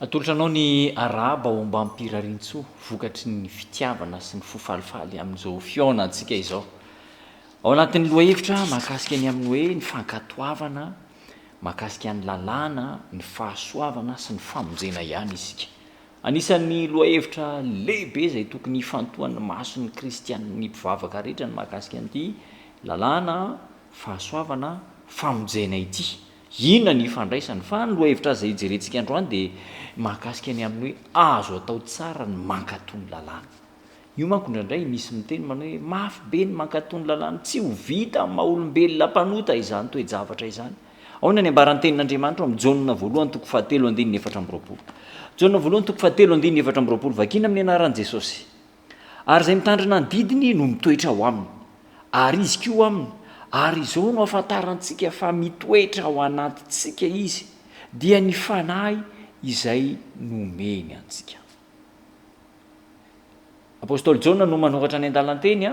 Atolotra anao ny arahaba ao Ambampirarintsoa vokatry ny fitiavana sy ny fo falifaly amin'izao fihaonantsika izao. Ao anatin'ny lohahevitra mahakasika ny amin'ny hoe ny fankatoavana mahakasika ny lalàna, ny fahasoavana sy ny famonjena ihany isika. Anisan'ny lohahevitra lehibe izay tokony hifantohan'ny mason'ny kristiana, ny mpivavaka rehetra ny mahakasika an'ity lalàna, fahasoavana, famonjena ity. Inona ny ifandraisany? Fa ny lohahevitra izay hijerentsika androany dia mahakasika ny amin'ny hoe azo atao tsara ny mankatò ny lalàna. Io manko indraindray misy miteny manao hoe mafy be ny mankatò ny lalàny. Tsy ho vita amin'ny maha olombelona mpanota izany toe-javatra izany. Ahoana ny ambaran'ny Tenin'Andriamanitra ao amin'ny Jaona voalohany toko fahatelo andininy efatra amby roapolo? Jaona voalohany toko fahatelo andininy efatra amby roapolo, Vakina amin'ny anaran'i Jesosy, ary izay mitandrina ny didiny no mitoetra ao aminy, ary izy koa ao aminy, ary izao no ahafantarantsika fa mitoetra ao anatintsika izy, dia ny Fanahy izay nomeny antsika. Apostoly Jaona no manoratra ny andalan-teny.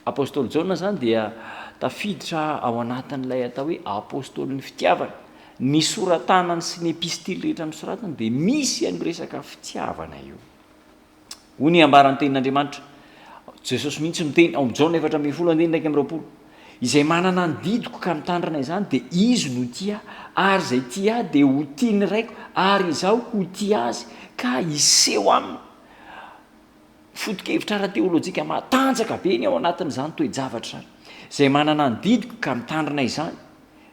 Apostoly Jaona izany dia tafiditra ao anatin'ilay atao hoe apostolin'ny fitiavana. Ny sora-tanany sy ny epistily rehetra nosoratany dia misy an'io resaka fitiavana io. Hoy ny ambaran'ny tenin'Andriamanitra, Jesosy mihitsy miteny ao amin'ny Jaona efatra ambin'ny folo andininy iraika amby roapolo. Izay manana ny didiko ka mitandrina izany dia izy no tia ahy, ary izay tia ahy dia ho tia ny Raiko, ary Izaho ho tia azy ka hiseho aminy. Foto-kevitra ara-teolojika matanjaka be ny ao anatin'izany toe-javatra izany. Izay manana ny didiko ka mitandrina izany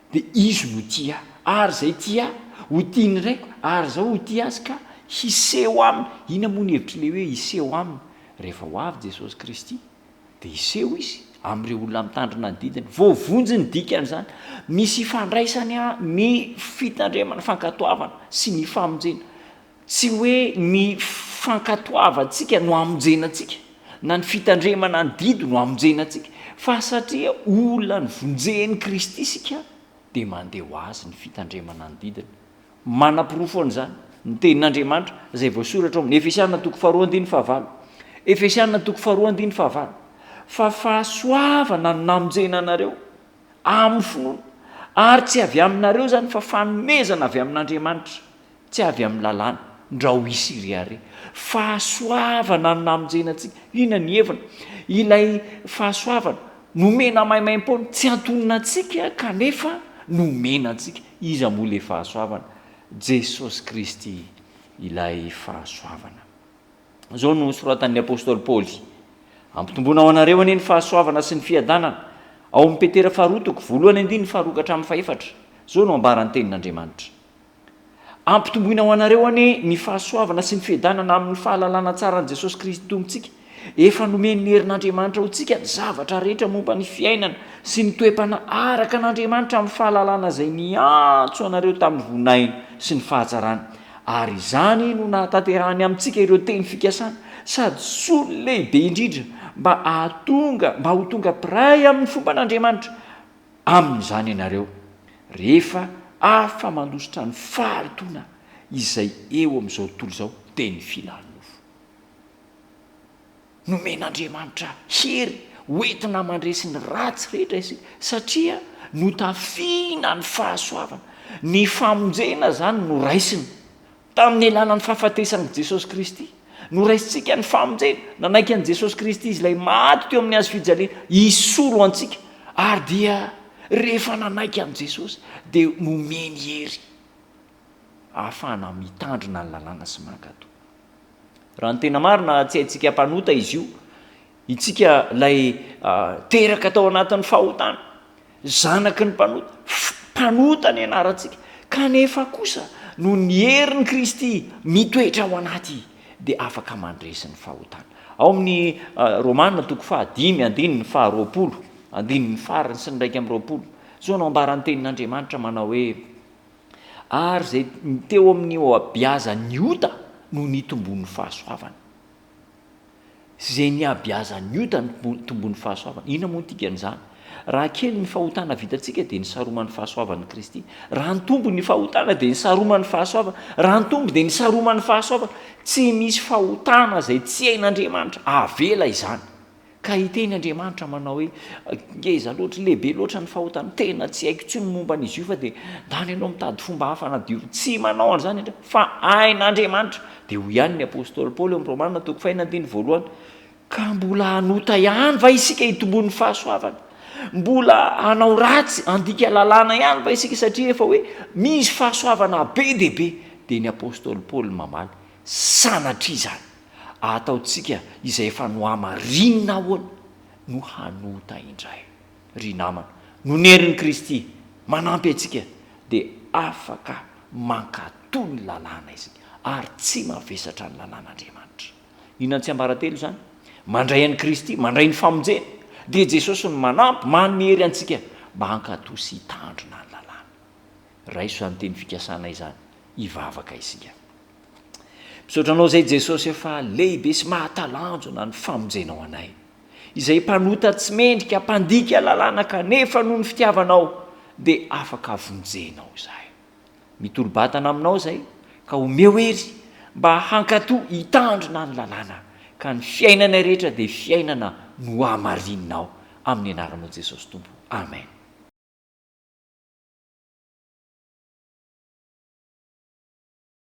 dia izy no tia ahy, ary izay tia ahy, ho tia ny Raiko, ary Izaho ho tia azy ka hiseho aminy. Inona moa ny hevitr'ilay hoe hiseho aminy? Rehefa ho avy Jesosy Kristy, Dia hiseho izy amin'ireo olona mitandrina ny didiny. Voavonjy ny dikan'izany. Misy ifandraisany ny fitandremana, fankatoavana sy ny famonjena. Tsy hoe ny fankatoavantsika no amonjena antsika, na ny fitandremana ny didy no amonjena antsika, fa satria olona novonjen'i Kristy isika dia mandeha ho Azy ny fitandremana ny didiny. Manaporofo an'izany ny Tenin'Andriamanitra izay voasoratra ao amin'ny Efesiana toko faharoa andininy fahavalo. Efesiana toko faharoa andininy fahavalo, Fa fahasoavana no namonjena anareo amin'ny finoana, ary tsy avy aminareo izany, fa fanomezana avy amin'Andriamanitra, tsy avy amin'ny lalàna, ndra ho hisy iry àry. Fahasoavana no namonjena antsika. Inona ny heviny? Ilay fahasoavana Nomena maimaimpoana, tsy antonona antsika kanefa nomena antsika. Iza moa ilay fahasoavana? Jesosy Kristy ilay fahasoavana. Izao no nosoratan'ny apostoly Paoly, Ampitomboana ho anareo anie ny fahasoavana sy ny fiadanana, ao amin'i Petera faharoa toko voalohany andininy faharoa ka hatramin'ny fahefatra. Izao no ambaran'ny Tenin'Andriamanitra. Ampitomboina ho anareo anie ny fahasoavana sy ny fiadanana amin'ny fahalalana tsara an'i Jesosy Kristy Tompontsika. Efa nomen'ny herin'Andriamanitra ho antsika ny zavatra rehetra momba ny fiainana sy ny toe-panahy araka an'Andriamanitra amin'ny fahalalana izay niantso anareo tamin'ny voninahiny sy ny fahatsarany. Ary izany no nahatanterahany amintsika ireo teny fikasana sady solony lehibe indrindra mba hahatonga mba ho tonga mpiray amin'ny fomban'Andriamanitra amin'izany ianareo rehefa afa-mandositra ny fahalotoana izay eo amin'izao tontolo izao dia ny fihinan-mofo. Nomen'Andriamanitra hery hoentina mandresy ny ratsy rehetra isika satria notafiana ny fahasoavana. Ny famonjena izany no raisiny. Tamin'ny alalan'ny fahafatesan'i Jesosy Kristy, noraisintsika ny famonjena. Nanaiky an'i Jesosy Kristy Izy Ilay maty teo amin'ny Hazo fijaliana hisolo antsika. Ary dia rehefa nanaiky an'i Jesosy, dia nomeny hery ahafahana mitandrina ny lalàna sy mankatò. Raha ny tena marina, tsy haintsika mpanota Izy io, Isika ilay teraka tao anatin'ny fahotana, zanaky ny mpanota, mpanota ny anarantsika, kanefa kosa noho ny herin'i Kristy mitoetra ao anaty dia afaka mandresy ny fahotana. Ao amin'ny Romana toko faha dimy andininy faha roapolo andininy farany sy ny iraika amby roapolo, izao no ambaran'ny tenin'Andriamanitra manao hoe, Ary izay teo amin'ny ohabiazan'ny ota no nitombon'ny fahasoavana. izay nihabeazan'ny ota ny tombon'ny fahasoavana. Inona moa ny dikan'izany? Raha kely ny fahotana vitantsika, dia ny saroman'ny fahasoavan'i Kristy. Raha nitombo ny fahotana, dia ny saroman'ny fahasoavana. Raha nitombo, dia ny saroman'ny fahasoavana. Tsy misy fahotana izay tsy hain'Andriamanitra. Avela izany. Ka hiteny Andriamanitra manao hoe, Ngeza loatra, lehibe loatra ny fahotany, tena tsy haiko intsony ny momba an'izy io fa dia ndany ianao mitady fomba hafa hanadiovo. Tsy manao an'izany Andriamanitra, fa hain'Andriamanitra. Dia hoy ihany ny apostoly Paoly ao amin'ny Romana toko fahenina andininy voalohany, Ka mbola hanota ihany va isika hitomboan'ny fahasoavana? Mbola hanao ratsy, handika lalàna ihany va isika satria efa hoe misy fahasoavana be dia be? Dia ny apostoly Paoly mamaly, Sanatria izany! Ataontsika izay efa nohamarinina ahoana no hanota indray. Ry namana, noho ny herin'i Kristy manampy antsika dia afaka mankatò ny lalàna isika ary tsy mavesatra ny lalàn'Andriamanitra. Inona no tsiambaratelo izany? Mandray an'i Kristy, mandray ny famonjena, dia Jesosy no manampy, manome hery antsika mba hankatò sy hitandrina ny lalàna. Raiso izany teny fikasana izany hivavaka isika. Misaotra Anao izay Jesosy e fa lehibe sy mahatalanjona ny famonjenao anay, izay mpanota tsy mendrika, mpandika lalàna kanefa noho ny fitiavanao dia afaka vonjenao izahay. Mitolo-batana aminao izay ka omeo hery mba hankato hitandrina ny lalàna ka ny fiainanay rehetra dia fiainana nohamarininao amin'ny anaranao Jesosy Tompo. Amen.